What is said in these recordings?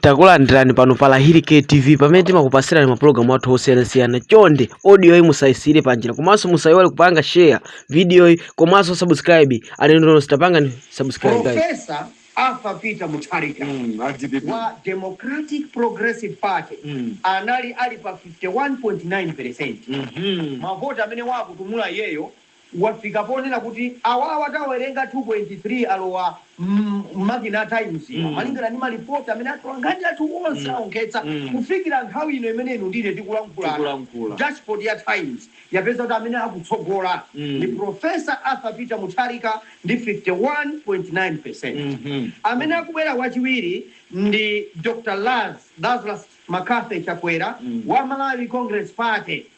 Takulandirani pano pa Lahiri K TV pamene timakupasirani mapulogalamu athu osiyanasiyana. Chonde audioyi musayisiyire panjira komanso musayiwale kupanga share videoyi komanso subscribe. Alendo nonse tapangani subscribe guys. Profesa Arthur Peter Mutharika mm, a dpp. wa Democratic Progressive Party mm. anali ali pa 51.9% mavoti amene wakutumpula iyeyo wafika ponena kuti awawa tawerenga 2,3 alowa mmakina a Times ano. Malingana ndi malipoti amene atolankhani athu onse awonkhetsa, kufikira nthawi ino imene inu ndi ine tikulankhulana, dashboard ya Times yapeza kuti amene akutsogola ndi Prof. Arthur Peter Mutharika ndi 51.9%. Amene akubwera wachiwiri ndi Dr. Laz. Lazarus MacCarthy Chakwera wa Malawi Congress Party.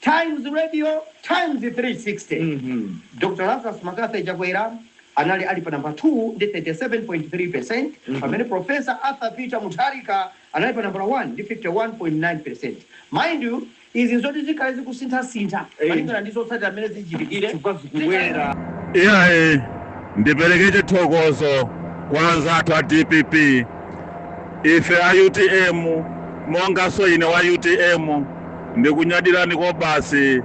Times Radio Times 360 Dr Lazarus Mccarthy Chakwera anali ali pa nambala 2 ndi 37.3% pamene Prof Arthur Peter Mutharika anali pa nambala 1 ndi 51.9%. Mind you, izi nzoti zikhale zikusinthasintha malingana ndi zotsatira mmene zichitikire chifukwa zikubwera. Iyayi, ndipereke chithokozo kwa anzathu a DPP. Ife a UTM monganso ine wa UTM. Ndikunyadilani kobasi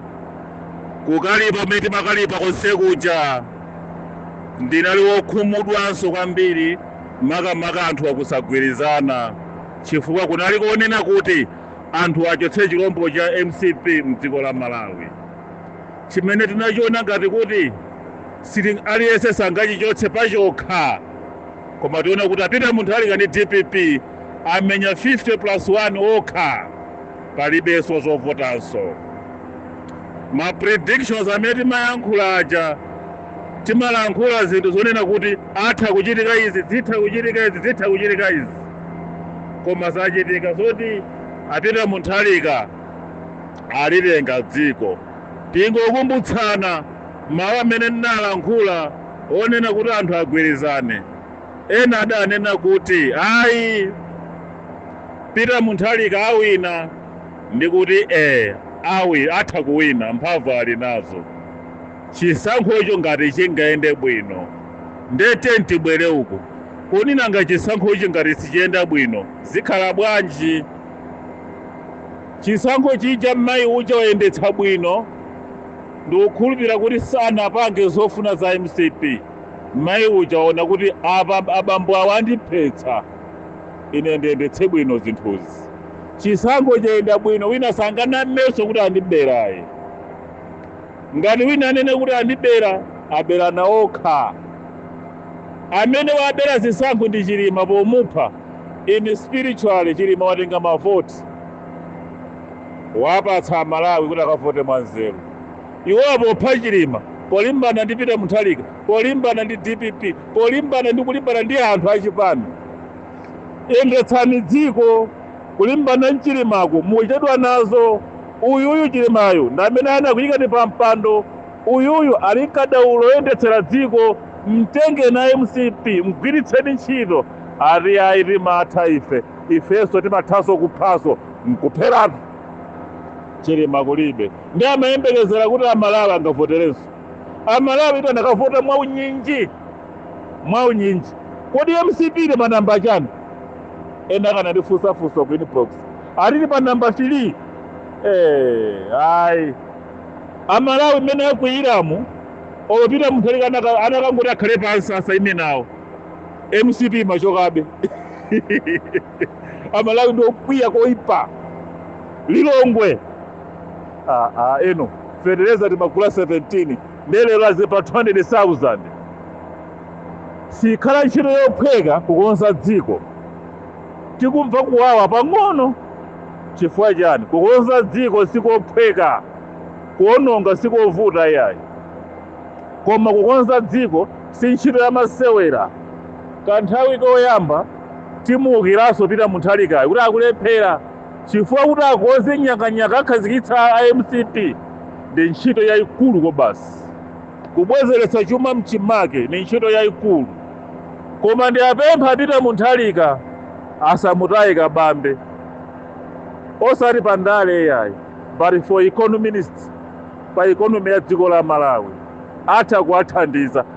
kukalipa kumene timakalipa konsekuja ndinali wokhumudwanso kwambiri makamaka anthu akusagwirizana chifukwa kunali konena kuti anthu achotse chilombo cha mcp mdziko la malawi chimene tinachiona ngati kuti sili aliyense sangachichotse pachokha koma taona kuti a Peter Mutharika ndi dpp amenya 50 plus 1 okha palibeso zovutanso ma predictions amene timalankhula aja timalankhula zinthu zonena kuti atha kuchitika izi zitha kuchitika izi zitha kuchitika izi koma zachitika zoti a Peter Mutharika alitenga dziko tingokumbutsana mawu amene ndinalankhula onena kuti anthu agwirizane Ena adanena kuti ayi, Peter Mutharika awina ndikuti ee awi atha kuwina mphamvu ali nazo chisankhocho ngati chingayende bwino nde tiyeni tibwere uku koma nanga chisankhochi ngati sichiyenda bwino zikhala bwanji? Chisankho chija mmayi uja wayendetsa bwino ndikukhulupira kuti sanapange zofuna za mcp. Mai uja waona kuti apa abambo awo andiphetsa. Ine ndiyendetse bwino zinthuzi. Chisankho chayenda bwino wina sanganamenso kuti andibera ayi. Ngati wina anene kuti andibera, aberana okha. Amene wabera zisankho ndi Chilima pomupha. In spiritually Chilima watenga mavoti. Wapatsa Amalawi kuti akavote mwanzeru. Iwo apopha Chilima polimbana ndi Peter Munthalika, polimbana ndi dpp, polimbana ndi kulimbana ndi anthu a chipani. Yendetsani dziko. Kulimbana ndi Chilimako mukuchedwa nazo. Uyuyu Chilimayu ndi amene anakuyikani pa mpando. Uyuyu ali nkadaulo oyendetsera dziko. Mtengeni a mcp mgwiritseni ntchito. Ati yayi timatha ife. Ifenso timathanso kuphanso. Nkupheratu. Chilima kulibe. Nde amayembekezera kuti a Malawi angavoterenso? A Malawi tu anakavota mwaunyinji, mwaunyinji. Kodi mcp ili pa number chani? Ena akanandifunsa funso ku inbox ati ili pa number 3. Eh, ayi. A Malawi mmene akwiyiramu, olo Peter Mutharika anaka- anakangoti akhale pansi asaime nawo. mcp imachokabe. amalawi ndi okwiya koipa lilongwe ah, ah, inu feteleza timagula 17 nde lero azi pa 200000 sikhala ntchito yophweka kukonza dziko tikumva kuwawa pang'ono chifukwa chani kukonza dziko sikophweka kuononga sikovuta yayi koma kukonza dziko si ntchito yamasewera kanthawi koyamba Timuukiranso Peter Munthalikayu kuti akulephera chifukwa kuti akonze nyakanyaka akhazikitsa a mcp ndi ntchito yaikulu kobasi. Kubwezeretsa chuma mchimake ndi ntchito yaikulu koma ndiapempha a Peter Munthalika asamutaye Kabambe osati pa ndale iyayi but for econominist pa economy ya dziko la Malawi atha kuwathandiza.